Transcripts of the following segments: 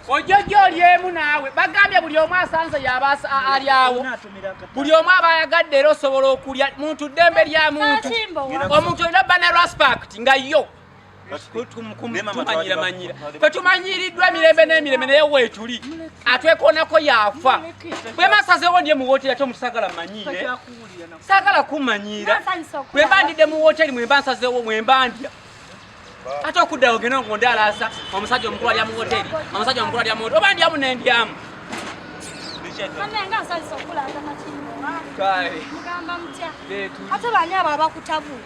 ojjojo olyemu naawe bagambye buli omu asanze yaba alyawo buli omu aba ayagadde era osobola okulya muntu ddembe lya muntu omuntu olina bana respect nga yo tumanyiramannyira fe tumanyiriddwa emirembe n'emirembe naye weetuli atwekoonako yaafa bwema sazeewo ndye mu wooteri ate omuntu sagala manyiire sagala kumanyiira bwemba ndidde mu wooteri mwemba nsazeewo mwemba ndya ate okuddawo genda ngo ndalaasa omusajja omukulu alya mu wooteri omusajja omukulu alya mu wooteri oba ndyamu nendyamu ate bani abo abakutabuula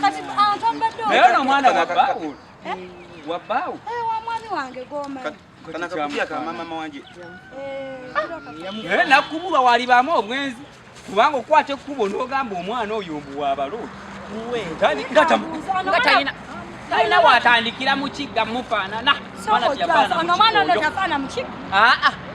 kati abantu ambadde naye ono omwana wa baawo eh? wa baawo eh, wa mwami wange gomani eh, nakubulwa walibaamu obwenzi kubanga okwata ekkubo n'ogamba omwana oyo mbu wabaloo talina watandikira mukigga mufaanana mwana ono tafaana mukigga ah, ah.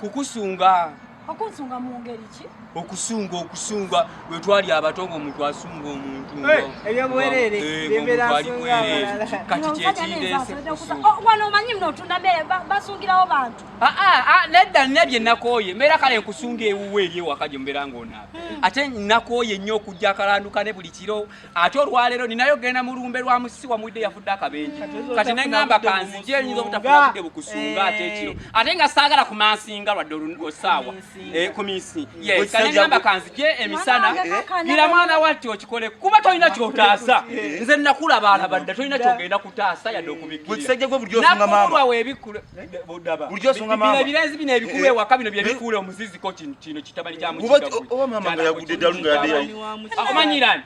kukusunga okunsunga mu ngeri ki okusunga okusunga lwe twali abato ng'omuntu asunga omuntu ebyobwerere kati kyekiwano omanyi mno otunda mere basungirawo bantu ah, ah, ah, nedda nina bye nakooye mbeera kale nkusunga ewuwe eri ewaka gye mubeera ng'onaaba hmm. ate nakooye nnyo okujja akalanduka ne buli kiro ate olwaleero ninayo genda mu lumbe lwa musisi wamuwidde yafudde akabenje kati neŋamba kanzije eyinza obutafuna budde bukusunga ate eh. ekiro ate nga saagala ku mansinga lwadde osaawa eh, ku minsi yeka neŋamba kanzije emisana gira eh? mwana wati okikole kuba tolina kyotaasa nze nakula baalabadda tolina kyogenda kutaasa yadde okubikirira nakulwa webikkule birazi bino ebikulu eh, ewaka bino byebikuula eh. omuziziko kino kitabani kyamukiaomanyirani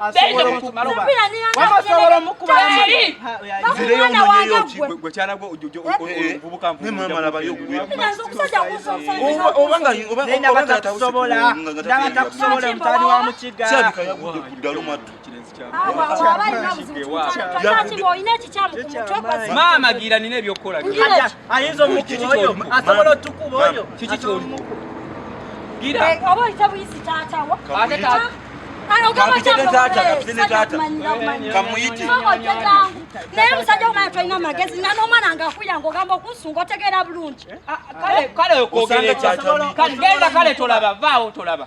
maama gira nina ebyokukola ayinza omukiti oyo asobola otukuba oyo kiki kyolimu gira oba oyita buyisi taatawo ate taata naye musajja omwana tolina amagezi na n'omwana nga akuyanga ogamba okunsunga otegeera bulungi kale kale tolaba vaawo tolaba